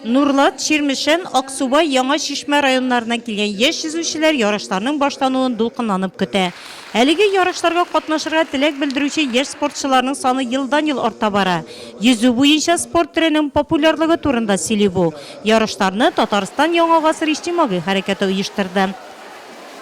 Нурлат, Чирмешән, Аксубай, Яңа Чишмә районнарыннан килгән яшь йөзүчеләр ярышларның башлануын дулкынланып көтә. Әлеге ярышларга катнашырга теләк белдерүче яшь спортчыларның саны елдан-ел арта бара. Йөзү буенча спорт төренең популярлыгы турында сөйли бу ярышларны Татарстан Яңа гасыр иҗтимагый хәрәкәте оештырды.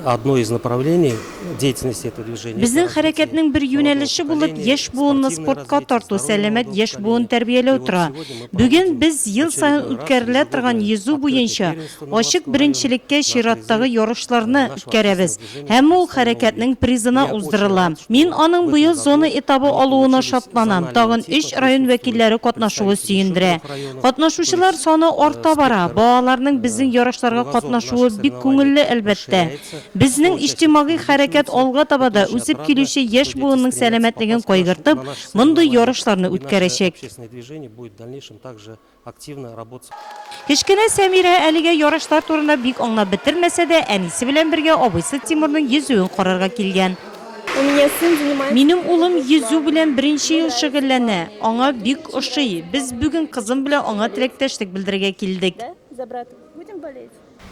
Одно из направлений деятельности этого движения. Безнең хәрәкәтнең бер юнәлеше булып яшь буынны спортка тарту, сәламәт яшь буын тәрбияләү тора. Бүген без ел саен үткәрелә торган йөзү буенча ачык беренчелеккә чираттагы ярышларны үткәрәбез һәм ул хәрәкәтнең призына уздырыла. Мин аның быел зона этабы алуына шатланам, тагын өч район вәкилләре катнашуы сөендерә. Катнашучылар саны арта бара. Балаларның безнең ярышларга катнашуы бик күңелле, әлбәттә. Безнең иҗтимагый хәрәкәт алга таба да, үсеп килүче яшь буынның сәламәтлеген кайгыртып, мондый ярышларны үткәрәчәк. Кечкенә Сәмирә әлегә ярышлар турында бик аңлап бетермәсә дә, әнисе белән бергә абыйсы Тимурның йөзүен карарга килгән. У меня сын занимается. Минем улым йөзү белән беренче ел шөгыльләнә. Аңа бик ошый. Без бүген кызым белән аңа теләктәшлек белдерергә килдек.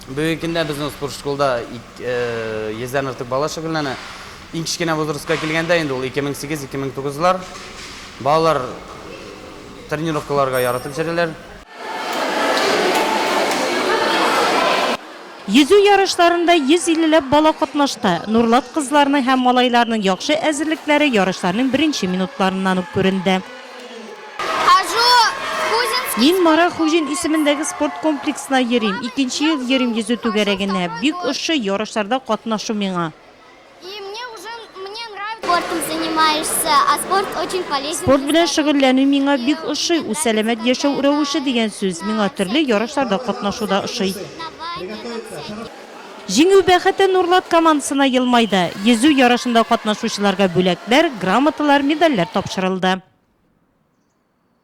Бүгенге көндә безнең спортшколда йөздән артык бала шөгыльләнә. Иң кечкенә возрастка килгәндә, инде ул 2008-2009 лар. Балалар тренировкаларга яратып йөриләр. Йөзү ярышларында 150 ләп бала катнашты. Нурлат кызларның һәм малайларның яхшы әзерлекләре ярышларның беренче минутларыннан ук күренде. Мин Мара Хуҗин исемендәге спорт комплексына йөрим. Икенче ел йөрим йөзү түгәрәгенә. Бик ошый ярышларда катнашу миңа. Спорт белән шөгыльләнү миңа бик ошый, ул сәламәт яшәү рәвеше дигән сүз. Миңа төрле ярышларда катнашу да ошый. Җиңү бәхете Нурлат командасына елмайды. Йөзү ярышында катнашучыларга бүләкләр, грамоталар, медальләр тапшырылды.